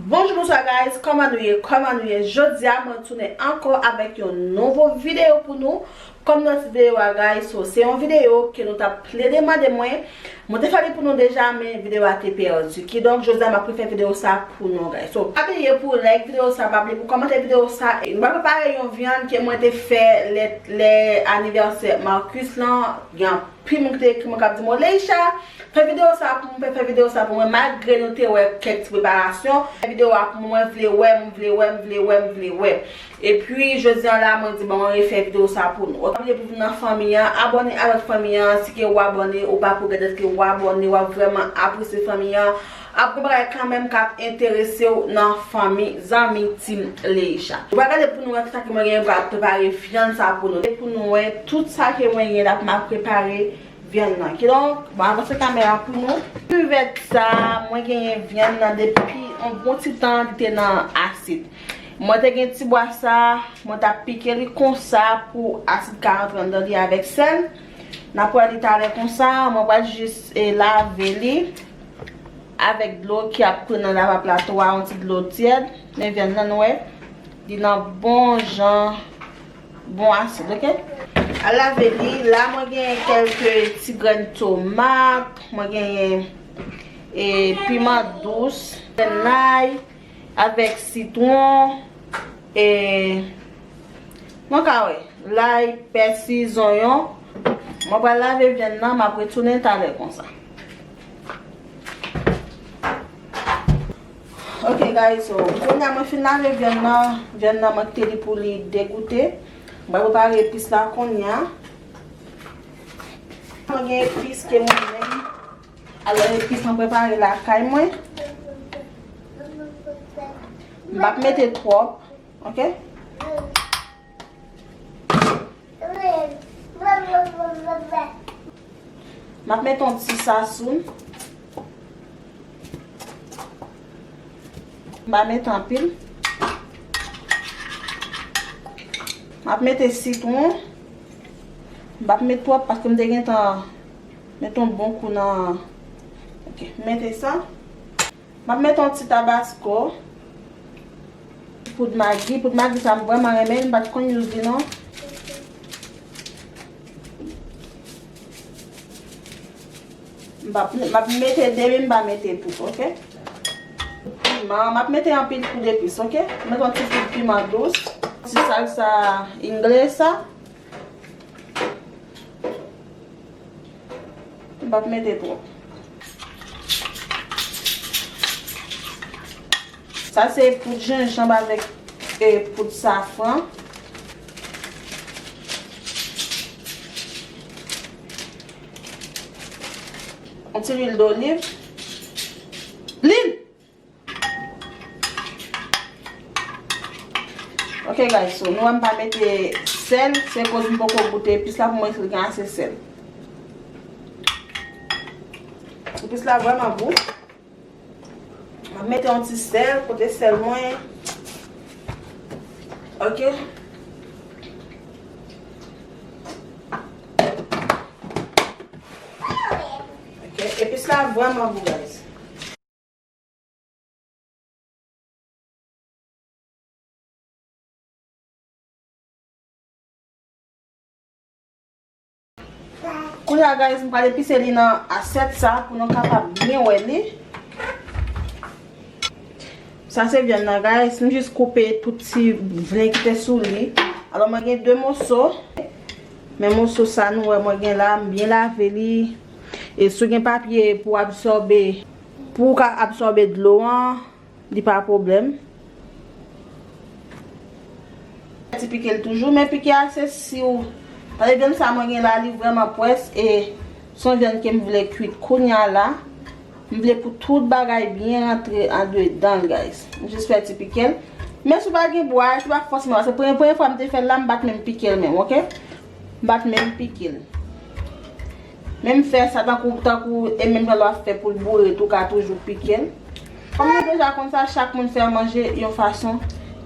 Bonjou bonswa guys, kòman nou ye, kòman nou ye, jodi a mwen tounen ankò avèk yon nouvo videyo pou nou Kòm nan tit videyo a guys so se yon videyo ke nou tap plede mande mwen, mwen te fè li pou nou deja men videyo a te pèdi kidonk jodi a map refè videyo sa pou nou guys so pa bliye pou like videyo sa pa bliye pou kòmante videyo sa e nou pral prepare yon vyann ke mwen te fè lè lè anivèsè Marcus lan gen anpil moun ki te ekri mwen kap di mwen Leisha fè videyo sa pou mwen fè videyo sa pou mwen malgre nou te wè kèk ti preparasyon fè videyo a pou mwen mwen vle wè mwen vle wè mwen vle wè mwen vle wè. Epi jodi an la mwen di bon mwen refè video sa pou nou. Ok abiye pou vin nan fanmi an, abòne a lòt fanmi an, si ke ou abòne ou pa pou gèdèt ke ou abòne wap vrèman apresye fanmi an, ap gen bagay kanmenm kap enteresew nan fanmi zanmi team Leisha. Ou pa gade pou nou wè kisa ke mwen gen pral prepare vyann sa pou nou. Pou nou wè tout sa ke mwen gen dap map prepare vyann nan. Kidonk mwen avanse kamera pou nou. Kivèt sa mwen genyen vyann nan depi yon bon ti tan li te nan asid. Mwen te gen ti bwa sa, mwen tap pike li konsa pou asid ka antre anndan li avèk sèl. Nap wè li talè konsa, mwen pral jis lave li avèk dlo ki ap koule nan lava plat ou a, yon ti dlo tyèd. Men vyann nan nou wè, li nan bon jan bon asid ok. Al lave li, la mwen gen kelke ti grenn tomat, mwen gen piman dous, lay. Avèk sitwon, e mwen ka wè, lay, pèsi, zonyon. Mwen pral lave vyann nan, m ap retounen talè konsa. Ok guys, so kounya mwen fin lave vyann nan, vyann nan mwen kite li pou li degoute. M pral prepare epis la kounya. Mwen gen epis ke mwen menm Alò epis mwen prepare lakay mwen. M pap mete twòp. Ok. M ap mete yon ti sasoun. M pa mete anpil. M ap mete sitwon. M pap mete twòp paske m te gentan. Met yon bon kou nan Ok m mete sa M ap met yon ti tabasko Poud magi Poud magi sa m vrèman renmen l m pa t konn use li non M pa m ap mete demi m pa mete tout ok Piman M ap mete anpil kou de plis ok M met yon ti poud piman dous Ti salsa ingle sa. M pap mete twòp. Sa se poud jenjanb avèk poud safran. Yon ti lwil doliv. Lil! Ok guys so nou wè m pa mete sèl se koz m poko goute epis la pou mwen si l gen ase sèl. Epis la vreman gou. Mwen mete yon ti sèl kote sèl mwen. Ok. Epis la vreman gou guys. Kounye a guys, m pral epise li nan asyèt sa pou nou kapab byen wè li. Sa se vyann nan guys, m jis koupe tout ti vlen ki te sou li. Alò mwen gen 2 moso, men moso sa nou wè mwen gen la, m byen lave li. E si w gen papye pou absòbe. Pou w ka absòbe dlo an, li pa pwoblèm. Ti pike l toujou, men pike a se si w. Tande vyann sa mwen gen la, li vrèman pwès e s on vyann ke m vle kuit kounya la. M vle pou tout bagay byen rantre andedan l guys. M jis fè ti pike l. Men si w pa gen bwa, si w pa fòseman, paske premye fwa m te fè l la, m pa t menm pike l menm, ok. M pa t menm pike l. Men m fè sa tankou tankou e menm jan lwa fè pou l boure tou ka toujou pike l. Kòm nou deja konn sa chak moun fè manje yon fason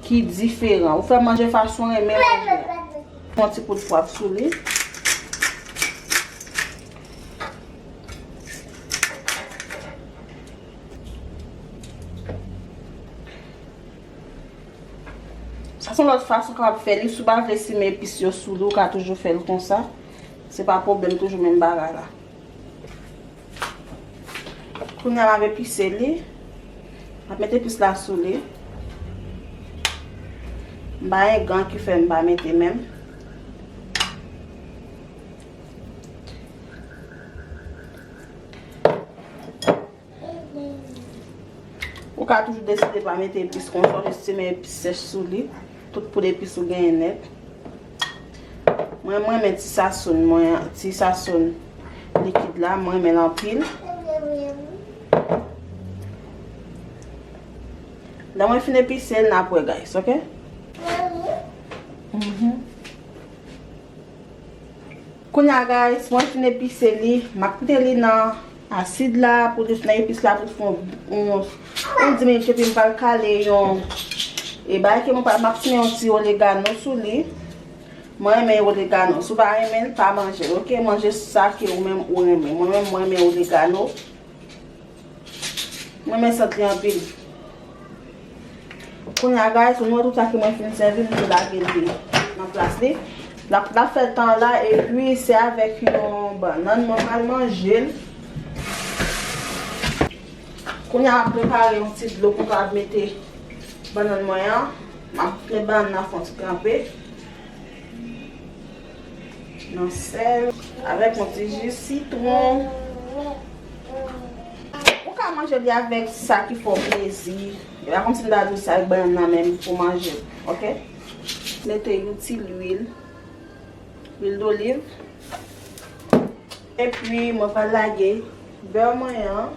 ki diferan. Ou fè manje fason w renmen manje a. Fon ti kout pwav sou li. Sa son lòt fason kapab fè li. Si w pa vle simen epis yo sou li, w ka toujou fè l konsa. Se pa pwoblèm, toujou menm bagay la. Kounye a, m ap epise li. M ap mete epis la sou li. M pa gen gan ki fè m pa mete men m. Ou ka toujou deside pa mete epis kon sa, jis simen epis sèch sou li. Tout poud epis ou genyen nèt. Mwen mwen men ti sasoun mwen an, ti sasoun likid la, mwen men l anpil. Lè mwen fin epise, n ap wè guys, ok? Kounya guys, mwen fin epise li, m ap mete li nan. Asid la pou dous nan epis la pou fon yon 10 minit epi m pral kale yon e bay ke m pral map simen yon ti oregano sou li mwen renmen oregano si w pa renmen l pa manje l ok manje sa ke ou menm ou renmen mwen menm mwen renmen oregano m renmen sant li anpil. Kounya guys nou wè tout sa ki mwen fin sèvi m tou lage l nan plas li lap fè l tan la epi se avèk yon bannann mwen pral manje l kounya map prepare yon ti dlo pou m kapab mete bannann mwen an map met bannann nan fon ti tranpe. Nan sèl. Avèk yon ti ji sitwon. Ou ka manje li avèk sa ki fè w plezi. E pa kòmsi m ta di w se ak bannann nan menm pou w manje l. Ok. Mete yon ti lwil. Lwil doliv. Epi mwen pral lage bè mwen an.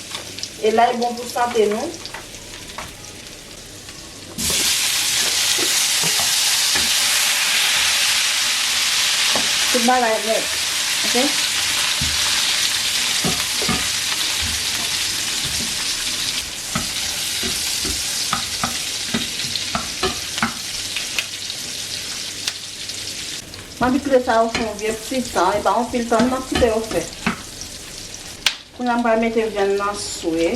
E lay bon pou sante nou. Tout bagay bon ok. Mwen anvi kle sa yo fè yon vye ti tan, e pa anpil tan non, nan ti tan yo fè. Kounya m pral mete vyann nan swe.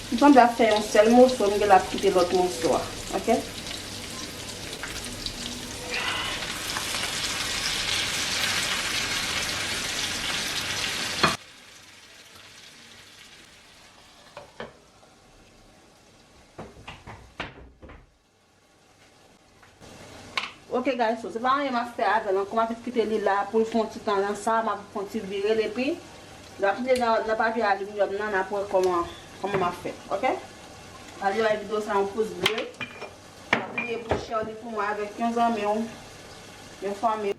M sanble ap fè yon sèl moso, m genlè ap kite lòt moso a. Ok. Ok guys so se pa anyen map fè avèl ankò map jis kite li la poul fon ti tan nan sa map fon ti virel epi lè ap mete nan papye aluminium nan nap wè kòman kòman map fè ok pase bay video sa yon pous ble pa bliye pou share li pou mwen avèk yon zanmiw yon fanmiw.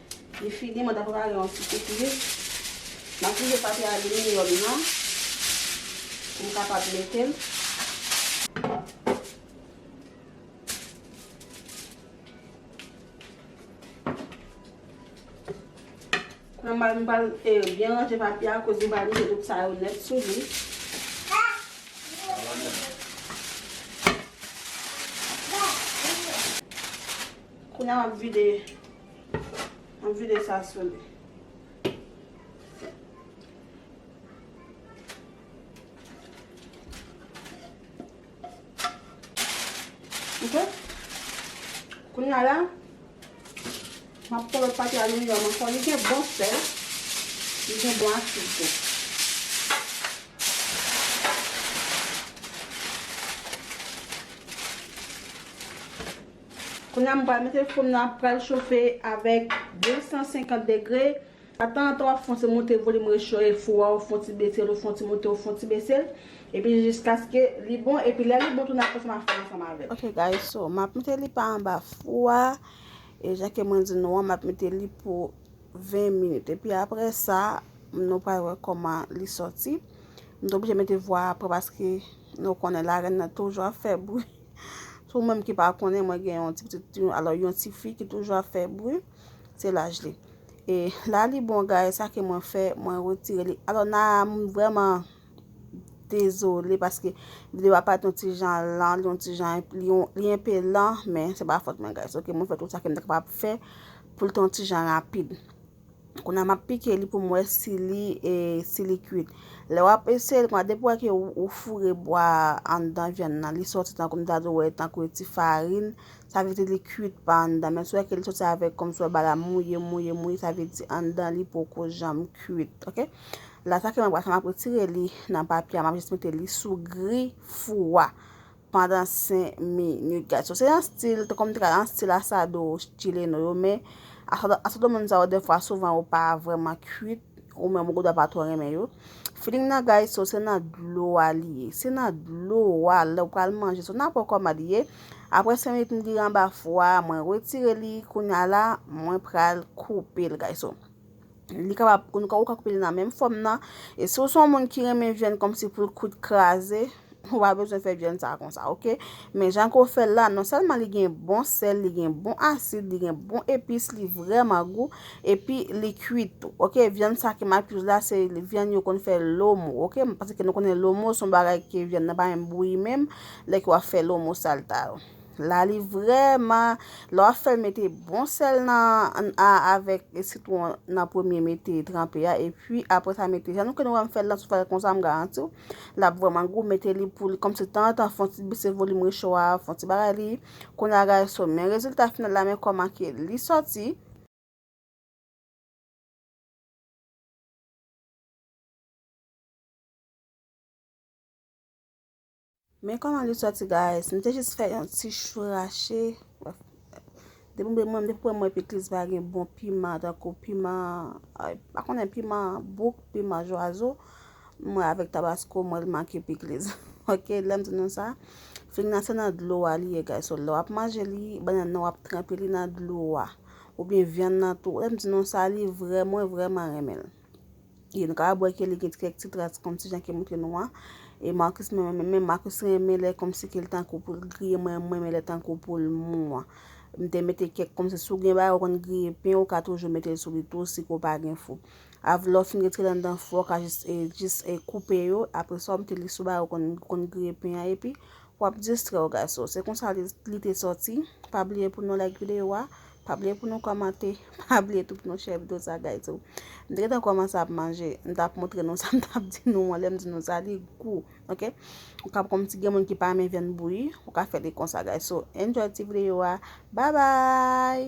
Li fini, mwen ta prepare yon ti pikliz. M ap mete papye aliminyòm nan pou m kapab mete l. Mwen pral mwen pral byen ranje papye a koz mwen pral mete tout sa yo nèt sou li. Kounya m ap vide. An vide sa sou li. Ok. Kounye a la. M ap pran lòt pati aliminyòm an. Fò li gen bon sèl. Li gen bon asid tou. Kounya m pral mete fo m nan ap pral chofe avèk 250 degre a tan an tan wap fon ti moute volim recho e fou a ou fon ti besel ou fon ti moute ou fon ti besel epi jiskaske li bon epi lè li bon tou nap wè sa map fè ansanm avèl. Ok guys so map mete li pa anba fou a e jan ke mwen di nou an map mete li pou 20 minit epi aprè sa nou pral wè koman li sòti m t oblije mete vwa aprè paske nou konnen la rèn nan toujou ap fè bri. Sou mwen ki pa konnen mwen gen yon ti pitit yon alò yon ti fi ki toujou ap fè bri, se laj li. E la li bon gay sa ke mwen fè, mwen retire li. Alò na mwen vreman dezole paske vide wap pa ton ti jan lan, ton ti jan li yon pe lan, men se pa fòt mwen gay. Soke mwen fè tout sa ke mwen kapab fè pou l ton ti jan rapid. Kounye a map pike li pou m wè si li si li kuit. Lè wap eseye l kounye a depi wè ke ou foure bwa anndan vyann nan li sòti tankou m ta di w wè tankou yon ti farin sa vle di li kuit pa anndan men si wè ke li sòti avèk kòm si wè ba la mouye mouye mouye sa vle di anndan li poko janm kuit ok. La sa ke mwen pral fè map retire li nan papye a map jis mete li sou gri fou a. pandan 5 minit guys so se yon stil te kòm te ka yon stil asado chileno yo men asado moun sa yo defwa souvan yo pa vreman kwit ou menm ou dwa pa twò renmen yo feeling nan guys so se nan dlo a li ye se nan dlo a lè ou pral manje so nan po kòman li ye apre 5 minit m li anba fwa mwen retire li kounya la mwen pral koupe l guys so. Li kapab, ou ka koupe li nan menm fòm nan. E si ou se yon moun ki renmen vyann kòmsi pou l kwit kraze, ou pa bezwen fè vyann sa konsa, ok? Men jan ke w fè l la, non sèlman li gen bon sèl, li gen bon asid, li gen bon epis, li vrèman gou, epi li kwit tou, ok? Vyann sa ke m ap youz la, se vyann yo konn fè lomo, ok? Paske nou konnen lomo se yon bagay ke vyann nan pa menm bouyi menm, lè ke w ap fè lomo salta yo. La li vreman lè wap fèl mete bon sèl nan a avèk sitwon nan premye mete tranpe a epi apre sa mete jan nou konnen wèm fèl la sou fèl konsa m garantiw lap vreman gou mete li pou li kòmsi tan tan fon ti bese volim recho a fon ti bagay li kounye a gade sou men rezilta final la men kòman ke li sòti. Men kòman li sòti guys, m te jis fè yon ti chou rache, depi m wè depi m wè pikliz pa gen bon piman tankou piman m pa konnen piman bouk, piman jwazo, m wè avèk tabasko m wè l make pikliz ok lè m di nou sa, fig nan se nan dlo a li ye guys, so lè w ap manje li bannann nan w ap tranpe li nan dlo a oubyen vyann nan tou, lè m di nou sa li vrèman mwen vrèman renmen l. E nou kapab wè ke li gen kèk ti tras kòm ti jan ke montre nou an. E Marcus menm menm menm, Marcus renmen lè kòm si ke li tankou pou l griye, mwen mwen renmen lè tankou pou l mou an. M te mete kèk kòm si si w gen bagay ou konn griye pen, ou ka toujou mete l sou li tou si ke w pa gen fou. Av lè w fin retire l anndan fou a, ou ka jis e jis e koupe yo, apre sa w mete li sou bagay ou konn ou konn griye pen an epi w ap distrè w gason. Se konsa li te sòti. Pa bliye pou nou like videyo a. Pa bliye pou nou kòmante. Pa bliye tou pou nou share video sa guys tou. M te gentan kòmanse ap manje. M t ap montre nou sa m t ap di nou an. Lè m di nou sa li gou. Ok. Ou kab konn si gen moun ki pa renmen vyann bouyi. Ou ka fè li konsa guys. So enjoy ti video a. Bye bye.